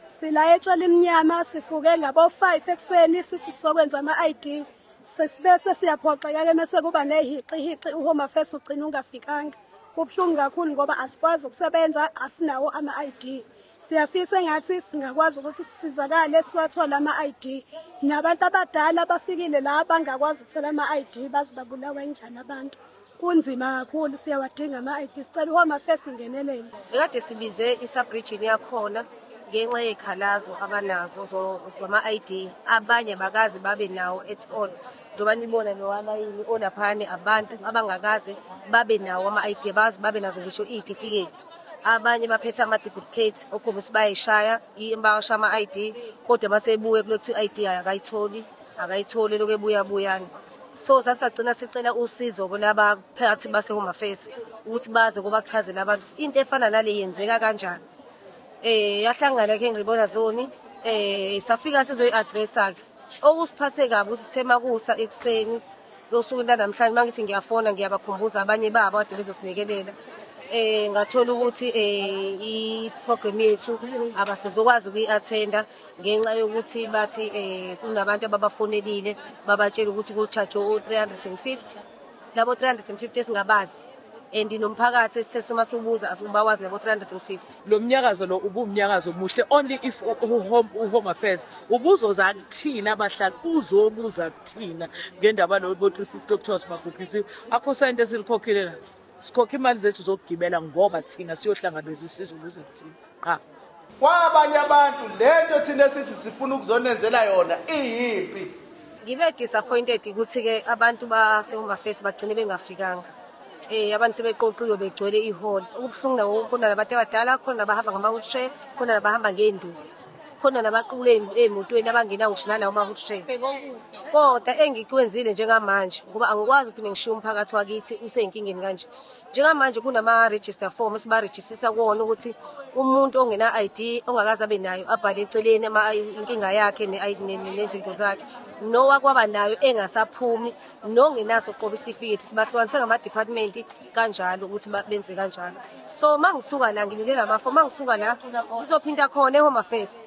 Sila etshali mnyama sifuke ngabo 5 ekseni sithi sokwenza ama ID sesibese siyaphoxeka ke mase kuba nehiqi hiqi uhome affairs ugcina ungafikanga kubuhlungu kakhulu ngoba asikwazi ukusebenza asinawo ama ID siyafisa engathi singakwazi ukuthi sisizakale siwathole ama ID nabantu abadala abafikile la bangakwazi ukuthola ama ID bazibabulawa indlala abantu Kunzima kakhulu siyawadinga ama-ID sicela uHome Affairs ungenelele. Sikade sibize i-subregion yakhona ngenxa yekhalazo abanazo zama-ID abanye bakazi babe nawo at all njengoba nibona nowalayini olaphani abantu abangakaze babe nawo ama-ID bazi babe nazo ngisho iy'tifiketi abanye baphethe ama-duplicate okhombisa bayayishaya bawasha ama-ID kodwa basebuye kule kuthiwa i-ID akayitholi akayitholi lokhu ebuyabuyana so sasagcina sicela usizo kulaba phakathi base-home affairs ukuthi baze kubachazele abantu ukuthi into efana nale yenzeka kanjani um yahlangana ke ngiribona zoni um safika sizoyi-adressa-ke okusiphathe kabi ukuthi sithe makusa ekuseni losuku lanamhlanje uma ngithi ngiyafona ngiyabakhumbuza abanye babo ade bezosinikelele eh ngathola ukuthi eh i-program yethu abasizokwazi ukuyi-attenda ngenxa yokuthi bathi um kunabantu ababafonelile babatshela ukuthi kuchajwe u-three hundred and fifty labo three hundred and fifty esingabazi and nomphakathi esithe sima siwubuza asibawazi labo 350 lo mnyakazo lo ubumnyakazo omuhle only if uhome uhome affairs ubuzoza kuthina abahlali uzobuza kuthina ngendaba lo 350 okuthiwa sibagugisiwe akho sente silikhokhile la Sikhokha imali zethu zokugibela ngoba thina siyohlangabeza usizo luze kuthina. Qha. Kwabanye abantu lento thina esithi sifuna ukuzonenzela yona iyimpi. Ngibe disappointed ukuthi ke abantu baseHomba Face bagcine bengafikanga. Eh abantu sebeqoqiwe begcwele ihall. Ukubuhlungu nawo wonke khona labantu abadala khona abahamba ngama wheelchair khona abahamba ngeenduku. khona nabaqukule ey'motweni abangena ngisho nalawo ma-hood train kodwa engikwenzile njengamanje ngoba angikwazi ukuphinde ngishiye umphakathi wakithi useyinkingeni kanje njengamanje kunama-register form esibarejistisa kuwona ukuthi umuntu ongena-i d ongakaze abe nayo abhale eceleni inkinga yakhe nezinto zakhe nowakwaba nayo engasaphumi nongenaso qoba isitifiketi sibahlukanise ngama-department kanjalo ukuthi benze kanjalo so mangisuka la ngilinde lamafa mangisuka la ngizophinda khona ehome affairs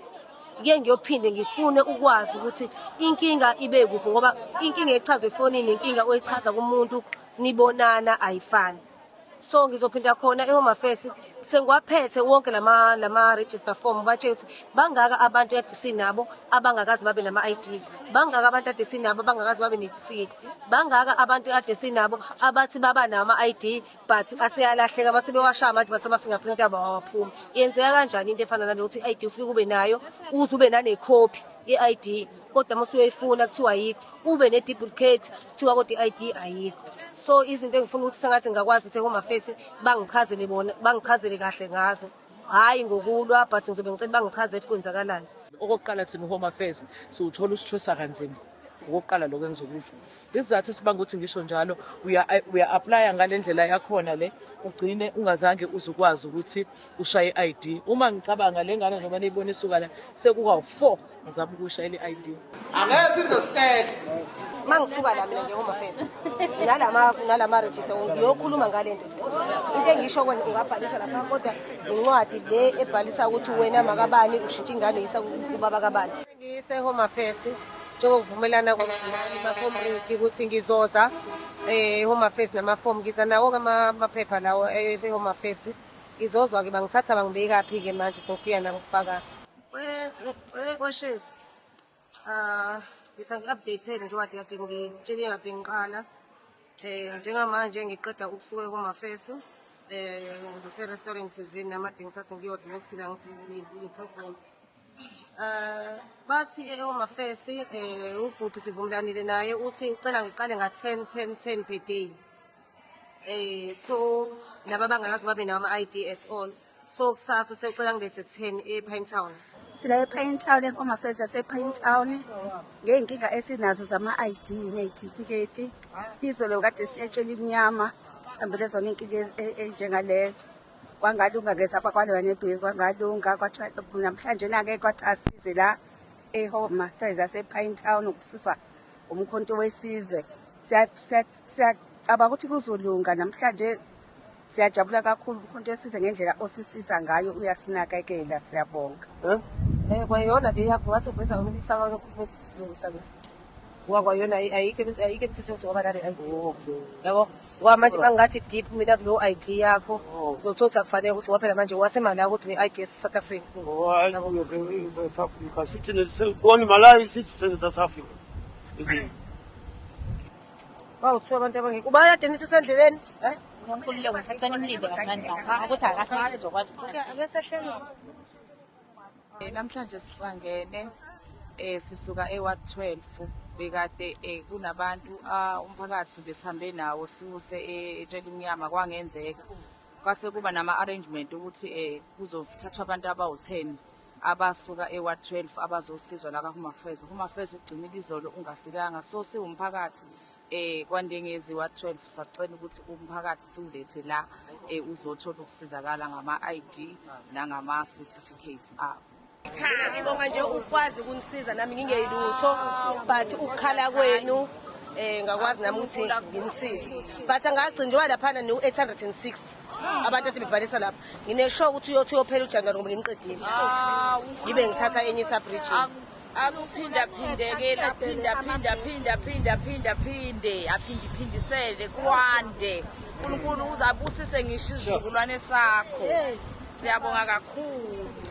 ngike ngiyophinde ngifune ukwazi ukuthi inkinga ibe kuphi ngoba inkinga echazwe efonini inkinga oyichaza kumuntu nibonana ayifani so ngizophinda khona ehome affairs sengiwaphethe wonke lama lama register form batshela ukuthi bangaka abantu kade sinabo abangakazi babe nama ID bangaka abantu kade sinabo abangakazi babe netifiketi bangaka abantu kade sinabo abathi baba nama ID but aseyalahleka base bewashaya manje bathi ama fingerprint abo awaphumi yenzeka kanjani into efana nale ukuthi ID ufike ube nayo uze ube nane copy ye-ID kodwa uma usuyoyifuna kuthiwa ayikho ube ne-duplicate kuthiwa kodwa i-id ayikho so izinto engifuna ukuthi sengathi ngingakwazi ukuthi home affairs bangichazele bona bangichazele kahle ngazo hhayi ngokulwa but ngizobe ngicela bangichazele ukuthi kwenzakalani okokuqala thina home affairs siwuthola usithwesa kanzima okokuqala lokho engizokusho isizathu esibanga ukuthi ngisho njalo uya-aplaya ngale ndlela yakhona le ugcine ungazange uze ukwazi ukuthi ushaye i-id uma ngicabanga le ngane njengoba niyibona isuka la sekukawu-four ngizama ukusha eli ID angeke size sihlele mangisuka la mina nje home affairs nalama nalama register ngiyokhuluma ngale nto into engisho kwena ungabhalisa lapha kodwa incwadi le ebhalisa ukuthi wena makabani ushintsha ingane yisa kubaba kabani ngise home affairs njengokuvumelana kwamacommunity ukuthi ngizoza eh home affairs namafomu ngiza nawo kamaphepha lawo eh, e-home affairs ngizozwa-ke bangithatha bangibekaphi-ke manje sengifika nakufakazi Koshezi. Ah, ngithe ngi-update-eni njengoba kade ngitshele kade ngiqala. Eh, njengamanje ngiqeda ukusuka komafeso. Eh, ngise-restaurant thizeni nami kade ngisathi ngiyodla nokusila ngiyi-program. Eh, bathi eomafesi eh ubhuti sivumelanile naye uthi ucela ngiqale nga 10 10 10 per day. Eh so laba bangakazi babe nama ID at all. So kusasa uthe ucela ngilethe kutheni e-Pine Town? Sila e-Pine Town eHome Affairs yase-Pine Town ngey'nkinga esinazo zama-ID ney'tifiketi. Izolo kade siyetshela imnyama sihambele zona iy'nkinga ez- e- ey'njengalezo. Kwangalunga ke sapha kwaloya nebheki kwangalunga kwathiwa namhlanje na-ke kwathi asize la eHome Affairs yase-Pine Town ukususwa umkhonto wesizwe. Siya- siya- Siyacabanga ukuthi kuzolunga namhlanje Siyajabula kakhulu mkhonto esize ngendlela osisiza ngayo uyasinakekela siyabonga. Eh? Eh kwayona le yakho wathi uveza umuntu ifaka lokhuluma esithi silungisa ke. Ngoba kwayona ayike ayike emthethweni njengoba nale ayikho. Yabo? Ngoba manje bangathi deep mina kulo ID yakho uzothothi akufanele ukuthi waphela manje wasemali yakho ukuthi ne-ID yase South Africa. Hayi ngeze South Africa. Sithi ne- se- one Malawi sithi se- South Africa. Hawu kuthiwa abantu abangekho. Ubaya Dennis usendleleni? Eh? Ngomkhulile ukuthi acela umlinde kancane kancane ukuthi akahlali uzokwazi ukuhlala. Ake sehlelo. Eh, Namhlanje sihlangene eh sisuka eWard 12 bekade eh, kunabantu ah, umphakathi besihambe nawo siwuse eh, etshela umnyama kwangenzeka kwase kuba nama arrangement ukuthi eh kuzothathwa abantu abawu 10 abasuka eWard 12 abazosizwa la kaHumafez. UHumafez ugcinile izolo ungafikanga so siwumphakathi eh kwaNdengezi Ward 12 sacela ukuthi umphakathi siwulethe la eh uzothola ukusizakala ngama-ID nangama-certificates abo. Ngibonga nje ukwazi ukunisiza nami ngingeyilutho but ukukhala kwenu eh ngakwazi nami ukuthi nginisize but angagcinjwa laphana no 860 abantu athi bebhalisa lapha Nginesho ukuthi uyothi uyophela uJanuwari ngoba nginiqedile. Ngibe ngithatha enye isabridge. Akuphinda phindekela phinda phinda phinda phinda phinda phinde aphindi phindisele kwande. uNkulunkulu uzabusise ngisho isizukulwane sakho. Siyabonga kakhulu.